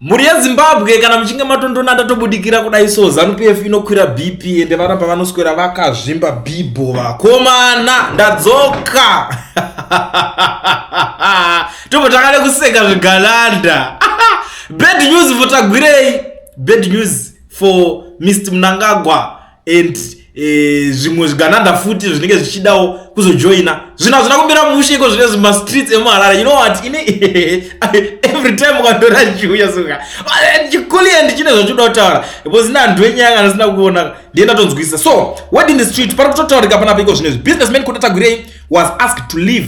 Mhuri yeZimbabwe kana muchinge matondona ndatobudikira kudai so ZanuPF inokwira BP ende vana pavanoswera vakazvimba bibho vakomana ndadzoka tobva takada kuseka zvegalanda bad news votagwirei bad news for Mr Mnangagwa and eh, zvimwe eh, zvigananda futi zvinenge zvichidawo kuzojoina zvinhu hazvina kumira mushe iko zvine zvimastreets emuharare you know what ini every time ukatora chiuya suka eh, chikuli and chine zvachoda kutaura because ine anhu enyanga anasina kuona ndiye ndatonzwisisa so word in the street pari kutotaurika panapa iko zvine zvi businessman kudatagurei was asked to leave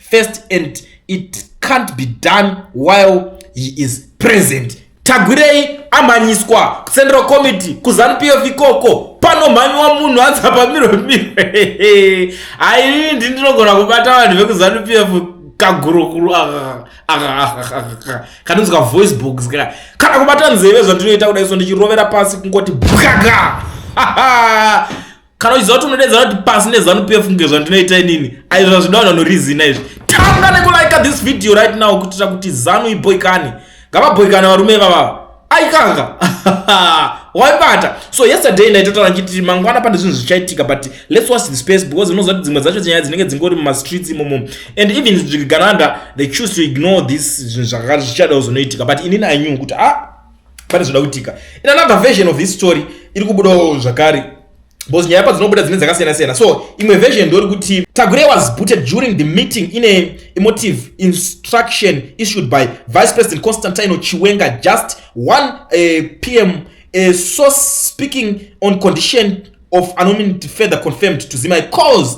first and it can't be done while he is present tagwirei amhanyiswa central committee kuzanupf ikoko panomhanyiwa munhu anzi apamirwe mirwe hainini ndi ndinogona kubata vanhu vekuzanupf kagurukuru kanonzi kavoice box ka kana kubata nzeve zvandinoita kuda iso ndichirovera pasi kungoti bwaga kana uchiziva kuti unodeedzana kuti pasi nezanu pf kunge zvandinoita inini aizvo zvazvida vanhu vanorizina izvi tanga nekulaika this video right now kuitira kuti zanu iboikane ngavabhoikane varume vavava aikanga waibata so yesterday ndaitotaura ndichiti mangwana pane zvinhu zvichaitika but let's watch the space because unoziva kuti dzimwe dzacho nyaya dzinenge dzingori mumastreets imomo and even zvigananda they choose to ignore this zvinhu zvakakati zvichada kuzonoitika but inini i knew kuti a ah, pane zvoda kuitika in another version of this story iri kubudawo zvakare because nyaya padzinobuda dzine dzakasiyana siyana so imwe version ndori kuti tagure was booted during the meeting in a emotive instruction issued by vice president constantino chiwenga just 1 uh, eh, pm a eh, source speaking on condition of anonymity further confirmed to zimai cause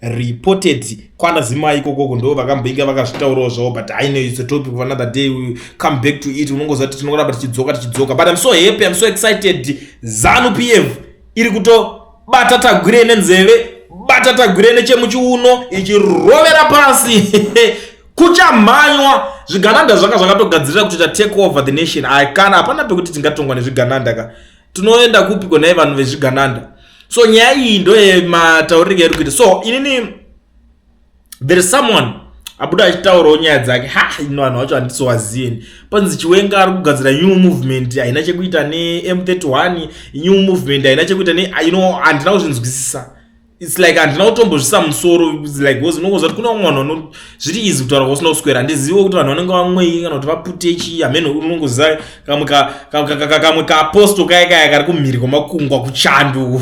reported kwana zimai ikokoko ndo vakamboinge vakazvitaurawo zvavo but i know it's a topic of another day we come back to it unongoziva kuti tinongoramba tichidzoka tichidzoka but im so happy im so excited zanu pf iri kutobata tagwire nenzeve bata tagwire nechemuchiuno ichirovera pasi kuchamhanywa zvigananda zvanga zvakatogadzirira kutoita take over the nation i can hapana pekuti tingatongwa nezvigananda ka tinoenda kupi konai vanhu vezvigananda so nyaya iyi ndoyematauriro yairi kuita so inini there is someone abuda achitaurawo nyaya dzake ha ino vanhu vacho handisowazieni panzi chiwenga ari kugadzira new movement haina chekuita nem31 new movement haina chekuita ne ino handina kuzvinzwisisa its like handina kutombozvisa musoro like because unongonzwa kuti kune vamwe vanhu vano zviri izi kutaura kwasina kuswera handizive kuti vanhu vanenge vamwei kana kuti vapute chii hamene unongoziva kamwe kamwe kaaposto kaya kaya kari kumhiri kwamakungwa kuchando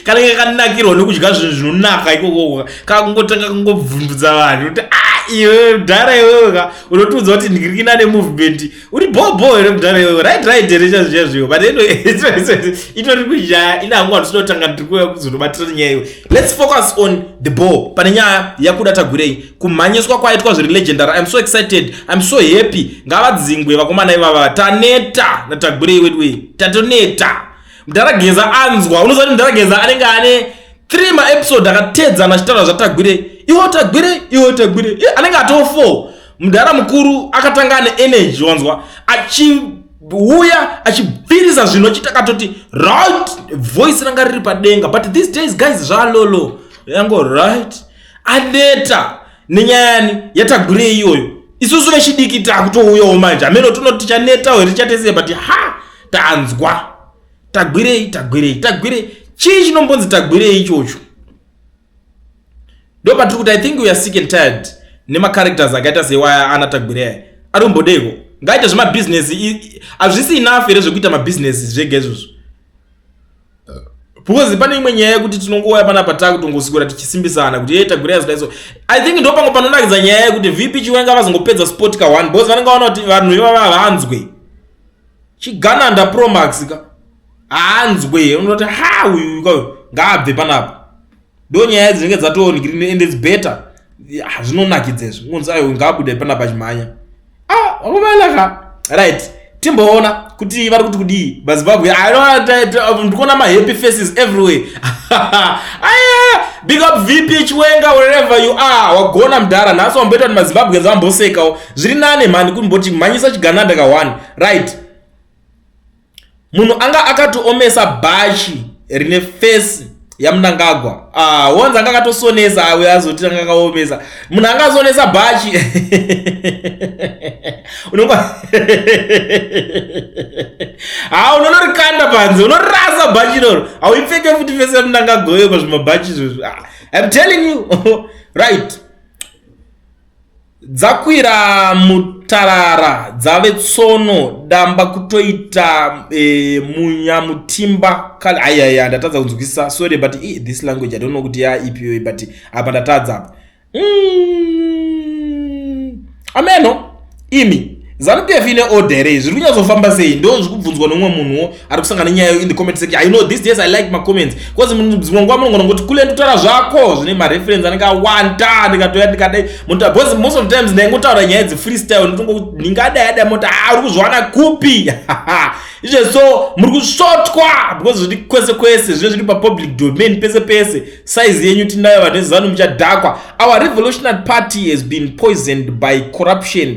kanenge kanakirwa nekudya zvinhu zvinonaka ikoko kakungotanga kungobvundudza vanhu kuti a ah, iwe mdhara iwewe ka unotiudza kuti ndiri kina nemovement uri bhobho here mudhara iwe right right here chazviya zviyo but itori kunyaya ina hangu hatisinotanga ndikuya kuzonobatira nyaya iwe let's focus on the ball pane nyaya yakuda tagwirei kumhanyiswa kwaitwa zviri legendary iam so excited iam so happy ngavadzingwe vakomana ivava taneta natagwirei wedway tatoneta mudhara geza anzwa unoziva kuti mudhara geza anenge ane three maepisode akatedzana achitaura zvatagwirei iwo tagwirei iwo tagwirei anenge atoo four mudhara mukuru akatanga ane energy wanzwa achiuya achibvirisa zvinhu achiita katoti right voice ranga riri padenga but these days guys zvalolo yango right aneta nenyayani yatagure iyoyo isusu vechidiki takutouyawo manje ameno tinoti tichanetawo here tichatese but ha tanzwa tagwirei tagwirei tagwirei chii chinombonzi tagwirei ichocho ndopatiri kuti i think we are sick and tired nemacharacters akaita seiwaya ana tagwireya ari kumbodeiko ngaite zvemabhizinesi hazvisi enough here zvekuita mabhizinesi zvega izvozvo because pane imwe nyaya yekuti tinongouya pana patakutongosikura tichisimbisana kuti yeita gura yazida iso i think ndo pango panonakidza nyaya yekuti vp chiwenga vazongopedza sport ka one because vanenge vaona kuti vanhu ivava havanzwe chigananda promax ka haanzwe unoti ha uyu kauyu ngaabve panapa ndo nyaya dzinenge dzatoongirin and its better zvinonakidza izvi ungonzi ayo ngaabude panapa chimhanya ah, akumalaka right timboona kuti vari kuti kudii vazimbabwe ndikuona mahappy faces everywhere aya big up vp chiwenga wherever you are wagona mdhara nhasi wamboita kuti mazimbabweans vambosekawo zviri nane mhani kumboti mhanyisa chigananda ka one right munhu anga akatoomesa bhachi rine fesi yamunangagwa ah, wonzi anga akatosonesa awe azoti anga akaomesa munhu anga azonesa bhachi unonga ha unonorikanda panze unorasa bhachi iroro hauipfeke futi fesi yamunangagwa yo pazvimabhachi izvozvo ah, im telling you right Dzakwira mutarara dzave tsono damba kutoita e, munya mutimba kale ayaya ndatadza kunzwisisa sorry but e, this language i don't know kuti ya ipiwe but apa ndatadza apa mm, ameno imi zanupf ine order here izvi zviri kunyatsofamba sei ndo zviri kubvunzwa nomumwe munhuwo ari kusangana nenyaya yo in the comment section i know this days i like macomments bcause dzimwe nguva munongona kuti kule nditaura zvako zvine mareference anenge awanda ndikatoya ndikadai munotaura bcause most of the times ndaingotaura nyaya dzi freestyle ndinongo ndingadai adai moti a ah, uri kuzviwana kupi izve so muri kusvotwa bcause zviri kwese kwese zvine zviri papublic domain pese pese size yenyu tinayo vanhu vezanu muchadhakwa our revolutionary party has been poisoned by corruption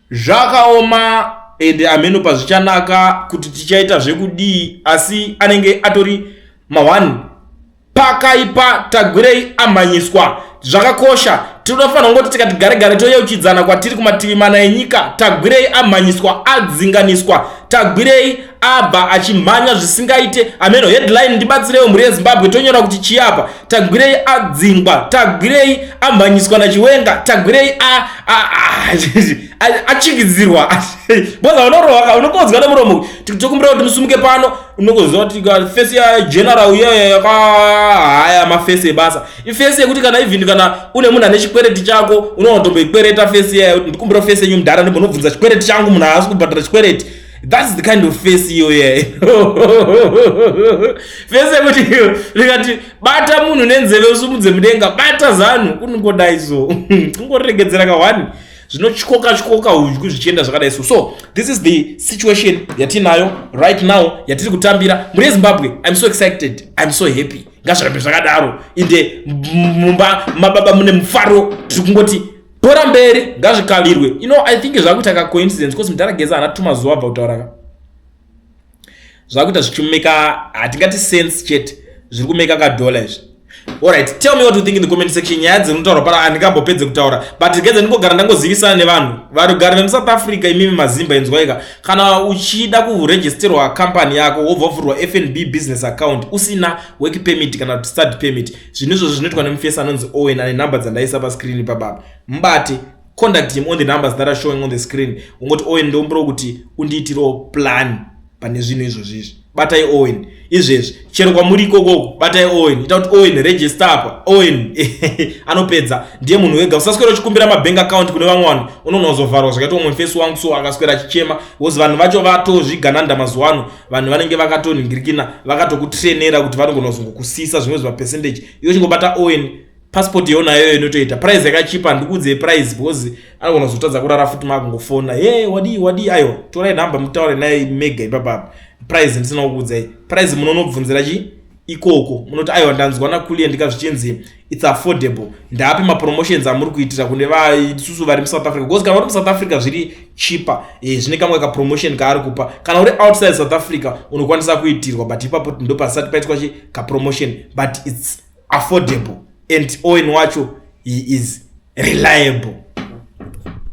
Zvakaoma ende ameno pazvichanaka kuti tichaita zvekudii asi anenge atori mahwani pakaipa tagwirei amhanyiswa zvakakosha tinofanira kungoti tikati gare gare toyeuchidzana kwatiri kumativi mana enyika tagwirei amhanyiswa adzinganiswa tagwirei abva achimhanya zvisingaite ameno headline ndibatsirewo mhuri yezimbabwe tonyora kuti chiyapa tagwirei adzingwa tagwirei amhanyiswa nachiwenga tagwirei achikidzirwa boza unorohaka unokonzwa nemuromo tokumbira kuti musumuke pano unokonzwa kuti fesi yageneral uyeye yakahaya mafesi ebasa ifesi yekuti kana even kana une munhu ane chikwereti chako unoona tomboikwereta fesi iyayo ndikumbira fesi yenyu mudhara ndimbonobvunza chikwereti changu munhu haasi kubhadhara chikwereti That's the kind of face iyo yeah. face yekuti rikati bata munhu nenzeve usumudze mudenga bata zanu kunongodai so kungoregedzera kawani zvinotyoka tyoka udyu zvichienda zvakadai so so this is the situation yatinayo right now yatiri kutambira muri yezimbabwe im so excited im so happy ngazvirambe zvakadaro inde mumba mababa mune mufaro tiri kungoti bhora mberi ngazvikavirwe you know i think zvakuita ka coincidence because mudhara geza ana tuma zuva abva kutaura ka zvakuita zvichimeka hatingati sense chete zviri kumeka ka dollar izvi alright tell me what you think in the comment section nyaya dzinotaura para handikambopedze kutaura but geza ndingogara ndangozivisana nevanhu varugari vemusouth africa imimi mazimba inzwaika kana uchida kuregisterwa company yako wobva vhurwa fnb business account usina work permit kana study permit zvinhu izvozvo zvinoitwa nemufesi anonzi owen ane number dzandaisa pascreen ipapapa mubate conduct him on the numbers that are showing on the screen ungoti owen ndombiro kuti undiitirewo plan pane zvinhu izvozvi izvi batai owen izvezvi chero kwamuri ikokoko batai owen ita kuti owen register apa owen anopedza ndiye munhu wega usaswera uchikumbira mabank account kune vamwe vanhu unoona uzovharwa zvakaita umwe mufesi wangu so akaswera achichema bcause vanhu vacho vatozvigananda mazuva ano vanhu vanenge vakatoningirikina vakatokutrenera kuti vanogona kuzongokusisa zvimwe zvimapercentage iyo chingobata owen passport yonayo inotoita price yakachipa handikuudzei price because anogona kuzotadza kurara futi maakungofona ye wadii wadii aiwa torai number mutaure naye mega ipapapa price ndisina kukuudzai price munonobvunzira chii ikoko munoti aiwa ndanzwa nakulia ndika zvichinzi its affordable ndaapi mapromotions amuri kuitira kune vaisusu vari musouth africa because kana uri musouth africa zviri chipa e, eh, zvine kamwe kapromotion kaari kupa kana uri outside south africa unokwanisa kuitirwa but ipapo ndo pasati paitwa chi kapromotion but its affordable and owen wacho he is reliable